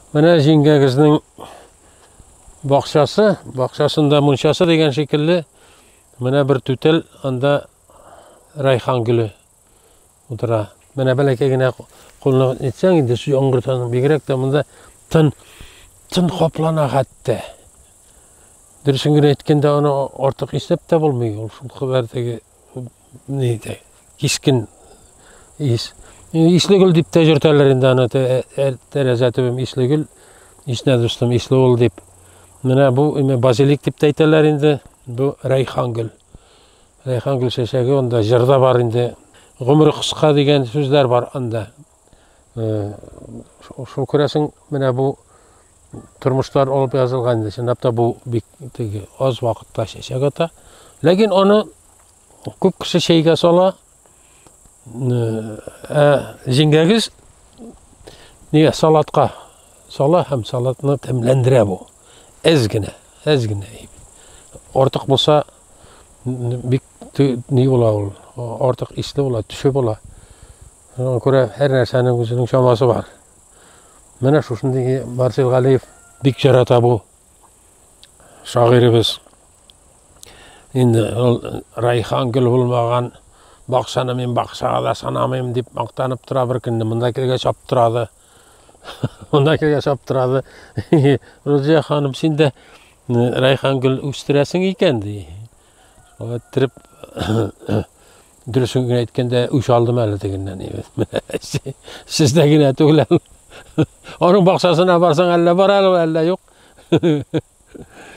Менә җиңгәгезнең бакчасы, бакчасында мунчасы дигән шикелле, менә бер түтел, анда райхан гөле утыра. Менә бәләкәй генә кулны нитсәң инде, яңгыртаны бигрәк тә монда тын, тын каплана хәтта. Дөресен генә әйткәндә, аны артык иснәп тә булмый, ул шул кадәр теге Нидә? Кискен ис. Исле гөл дип тә йөртәләр инде аны тәрәзә төбем исле гөл. Ишнә дустым, исле ул дип. Менә бу име базилик дип тә әйтәләр инде. Бу райхан гөл. Райхан гөл чәчәге, анда җырда бар инде. Гомере кыска дигән сүзләр бар анда. Шул күрәсең, менә бу тормышлар алып язылган инде. Чынлап та бу бик теге аз вакытта чәчәк ата. Ләкин аны күп кеше чәйгә сала. Ә җиңгәгез нигә салатка сала һәм салатны тәмләндерә бу. Әз генә, әз генә. Артык булса бик ни була ул, артык исле була, төшү була. Шуңа күрә һәр нәрсәнең үзенең чамасы бар. Менә шушындый Марсел Галиев бик ярата бу шагыйребез. Инде ул Райхан гөл булмаган бакчаны мин бакчага да санамыйм дип мактанып тора бер көнне монда килгәч аптырады. Монда килгәч аптырады. Рузия ханым, син дә Райхан гөл үстерәсең икән ди. Шулай иттереп, дөресен генә әйткәндә, үч алдым әле тегеннән. Сездә генә түгел. Аның бакчасына барсаң, әллә бар әле, әллә юк.